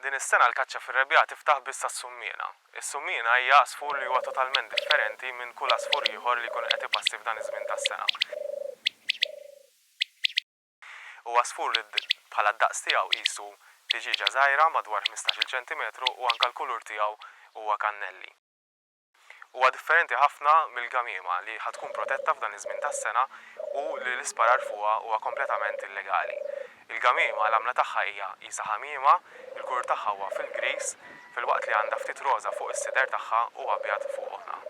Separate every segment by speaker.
Speaker 1: Din is-sena l-kaċċa fir-rebbiegħa tiftaħ biss għas-summiena. Is-summiena hija għasfur li huwa totalment differenti minn kull għasfur ieħor li jkun qed ipassi f'dan iż-żmien tas-sena. Huwa għasfur li bħala d-daqs tiegħu qisu tiġieġa żgħira madwar ħmistax-il ċentimetru u anke l-kulur tiegħu huwa kannelli. Huwa differenti ħafna mill-gamiema li ħa tkun protetta f'dan iż-żmien tas-sena u li l-isparar fuqha huwa kompletament illegali. Il-gamiema l-għamla tagħha hija qisha ħamiema, il-kulur tagħha huwa fil-griż, filwaqt li għandha ftit roża fuq is-sider tagħha u abjad fuq għonha.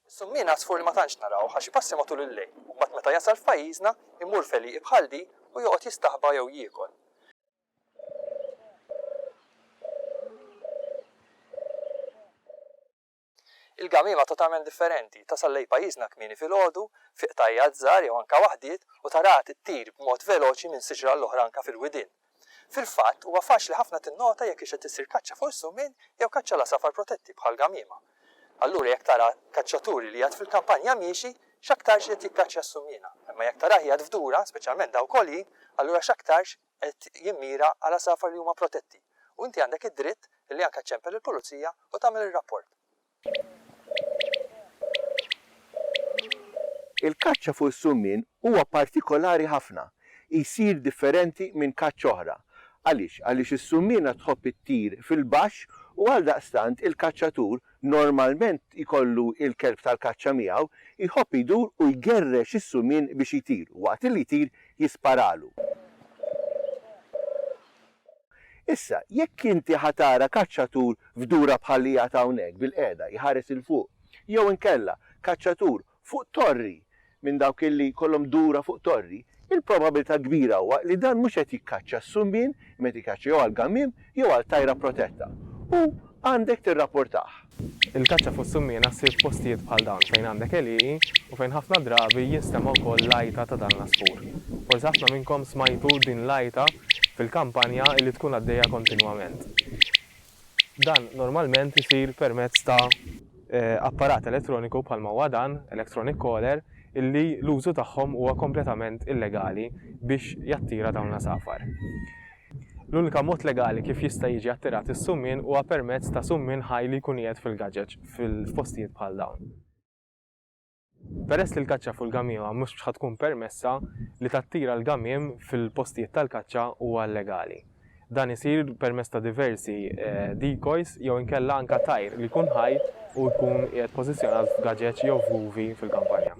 Speaker 1: Is-summien għasfur li ma tantx narawh għax ipassi matul il-lejl u mbagħad meta jasal f'pajjiżna jmur f'għelieqi bħal di u joqgħod jistaħba jew jiekol. Il-gamiema totalment differenti, tasal lejn pajjiżna kmieni filgħodu, f'ieqtajjat żgħar jew anke waħdiet u taraha tittir b'mod veloċi minn siġra għall-oħra anke fil-widien. Fil-fatt, huwa faċli ħafna tinnota jekk hix qed issir kaċċa fuq is-summin jew kaċċa l-għasafar protetti bħal gamiema. Allura jekk tara kaċċaturi li jgħadd fil-kampanja miexi, x'aktarx qiegħed jikkaċċja s-summiena. Imma jekk tarah jgħadd f'dura, speċjalment dawk għoljin, allura x'aktarx qed jimmira għal għasafar li huma protetti. U inti għandek id-dritt li anke ċċempel il-pulizija u tagħmel ir-rapport. Il-kaċċa fuq is-summien huwa partikolari ħafna. Jsir differenti minn kaċċa oħra. Għaliex? Għaliex is-summiena tħobb ittir fil-baxx u għaldaqstant il-kaċċatur, normalment jkollu l-kelb tal-kaċċa miegħu, jħobb idur u jgerrex is-summien biex jtir u waqt li jtir jisparalu. Issa, jekk inti ħa tara kaċċatur f'dura bħal li jgħad hawnhekk bilqiegħda jħares 'il fuq, jew inkella kaċċatur fuq torri minn dawk illi jkollhom dura fuq torri, il-probabilità kbira huwa li dan mhux qed jikkaċċa s-sumbien imma qed jikkaċċa jew għall-gamiem jew għal tajra protetta u għandek tirrapportah. Il-kaċċa fuq is-summiena ssir f'postijiet bħal dawn fejn għandek għelieqi u fejn ħafna drabi jinstema' wkoll l-għajta ta' dan l-għasfur. Forsi ħafna minnkom smajtu din l-għajta fil-kampanja li tkun għaddejja kontinwament. Dan normalment isir permezz ta'. Apparat elettroniku bħalma huwa dan, electronic caller, illi l-użu tagħhom huwa kompletament illegali biex jattira dawn l-għasafar. L-unika mod legali kif jista' jiġi attirat is-summien huwa permezz ta' summien ħaj li jkun qiegħed fil-gaġeġ f'postijiet bħal dawn. Peress li l-kaċċa fuq il-gamiema mhux ħa tkun permessa, li tattira l-gamiem fil-postijiet tal-kaċċa huwa illegali. Dan isir permezz ta' diversi decoys jew inkella anke tajr li jkun ħaj u jkun qiegħed pożizzjonat f'gaġeġ jew f'buvi fil-kampanja.